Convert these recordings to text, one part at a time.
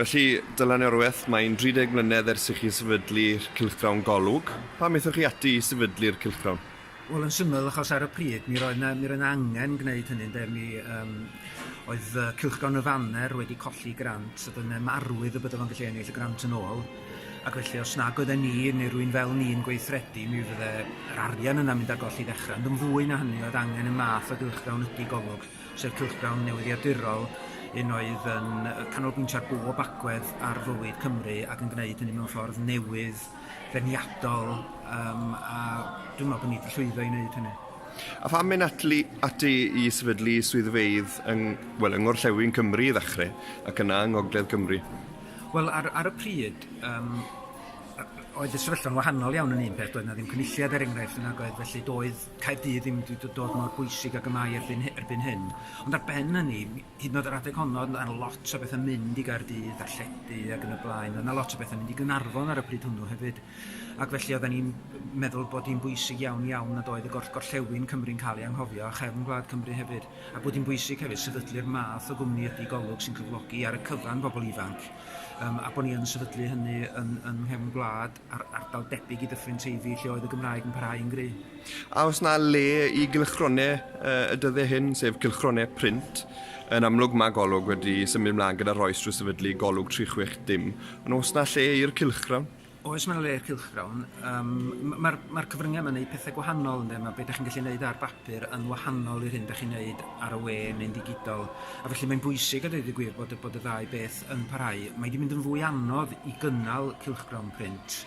Felly, Dylan Iorwerth, mae'n 30 mlynedd ers i chi sefydlu'r cylchgrawn Golwg. Pam aethoch chi ati i sefydlu'r cylchgrawn? Wel, yn syml, achos ar y pryd, mi roedd yna, mi roedd yna angen gwneud hynny, ynde, mi um, oedd uh, cylchgrawn y faner wedi colli grant, a dyna marwydd y byddaf yn gallu ennill y grant yn ôl. Ac felly, os nag oedd ni, neu rwy'n fel ni'n gweithredu, mi fydde yr arian yna mynd ar golli ddechrau. Ond yn fwy na hynny, oedd angen y math o gylchgrawn ydi golwg. sef cylchgrawn newyddiadurol, un oedd yn canolbwyntio ar bob agwedd ar fywyd Cymru ac yn gwneud hynny mewn ffordd newydd, feirniadol, um, a dwi'n meddwl bod ni wedi llwyddo i wneud hynny. A pham mynd atli, ati i sefydlu swyddfeydd yng, well, yng Ngorllewin Cymru i ddechrau, ac yna yng Ngogledd Cymru? Wel, ar, ar y pryd, um, oedd y sefyllfa'n wahanol iawn yn un peth, doedd na ddim cynulliad er enghraifft yn agoedd, felly doedd Caerdydd ddim wedi do- dod mor bwysig ag y mae erbyn hy- erbyn hyn. Ond ar ben hynny, m- hyd yn o'd yr adeg honno o'dd 'na lot o bethe'n mynd i Gaerdydd, darlledu ag yn y blaen, o'dd 'na lot o bethe'n mynd i Gaernarfon ar y pryd hwnnw hefyd ac felly oddan ni'n m- meddwl bod hi'n bwysig iawn iawn nad oedd y gor- gorllewin Cymru'n ca'l ei anghofio a chefn gwlad Cymru hefyd a bod hi'n bwysig hefyd sefydlu'r math o gwmni ydi Golwg sy'n cyflogi ar y cyfan bobol ifanc yym a bo' ni yn sefydlu hynny yn yn nghefn gwlad. ar ardal debyg i Dyffryn Teifi lle oedd y Gymraeg yn parhau yn gry. A oes na le i gylchgronau y dyddau hyn, sef cylchgronau print? Yn amlwg mae golwg wedi symud mlaen gyda rhoi strwy sefydlu golwg 360, ond oes na lle i'r cylchgrawn? Oes mae na le i'r cylchgrawn. Um, Mae'r ma cyfryngau yma'n gwneud pethau gwahanol ynddo, mae beth da chi'n gallu gwneud ar bapur yn wahanol i'r hyn da chi'n gwneud ar y we neu'n ddigidol. A felly mae'n bwysig a dweud y gwir bod, bod y ddau beth yn parhau, mae wedi mynd yn fwy anodd i gynnal cylchgrawn print,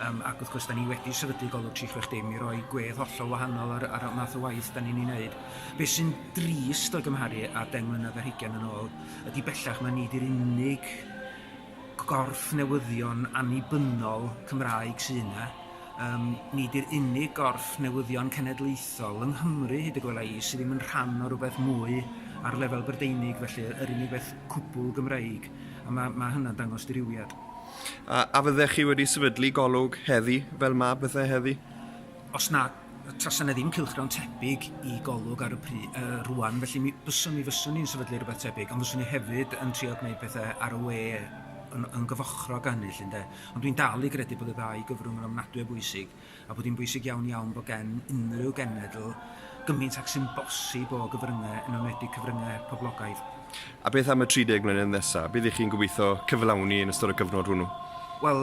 um, ac wrth gwrs, da ni wedi sefydlu golwg 360 i roi gwedd hollol wahanol ar, ar y math o waith da ni'n ei wneud. Be sy'n drist o gymharu a deng mlynedd ar hugen yn ôl, ydy bellach mae ni wedi'r unig gorff newyddion annibynnol Cymraeg sy'n yna, Yym, nid yw'r unig gorff newyddion cenedlaethol, yng Nghymru hyd y gwela i, sydd ddim yn rhan o rywbeth mwy ar lefel Brydeinig, felly yr unig beth cwbl Gymreig, a ma', ma' hynna'n dangos dirywiad. A, a fyddech chi wedi sefydlu golwg heddi, fel ma' pethau heddi? Os na, tasa 'na ddim cylchgrawn tebyg i golwg ar y pry, uh, rwan, felly mi byswn, mi fyswn ni'n sefydlu rhywbeth tebyg, ond fyswn ni hefyd yn trio gwneud pethau ar y we yn, yn gyfochrog â hynny, llynde. Ond dwi'n dal i gredu bod y ddau gyfrwng yn ofnadwy o bwysig, a bod hi'n bwysig iawn iawn bod gen unrhyw genedl gymaint ag sy'n bosib o gyfryngau, yn enwedig cyfryngau heb poblogaidd. A beth am y 30 mlynedd nesaf? Be ydych chi'n gobeithio cyflawni yn ystod y cyfnod hwnnw? Wel,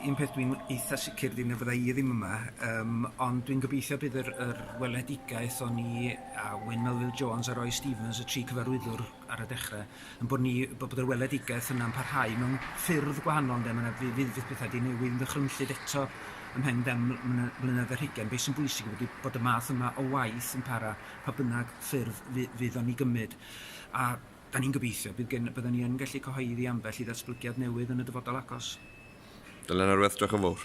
un peth dwi'n eitha' sicr ydy na fydda' i ddim yma, yym ond dwi'n gobeithio bydd yr yr weledigaeth o'n i a Wyn Melville Jones a Roy Stevens, y tri cyfarwyddwr ar y dechre, yn bod ni bod yr weledigaeth yna'n parhau mewn ffyrdd gwahanol ynde, mae 'na fydd fydd fydd pethau 'di newid yn ddychrynllyd eto ymhen dan mlyne- mlynedd ar hugain. Be' sy'n bwysig yw bod y bod y math yma o waith yn para pa bynnag ffyrdd fu- fydd o'n 'i gymyd a 'dan ni'n gobeithio bydd gen- byddan ni yn gallu cyhoeddi ambell i ddatblygiad newydd yn y dyfodol agos. Dylan Erweth, diolch yn fowr.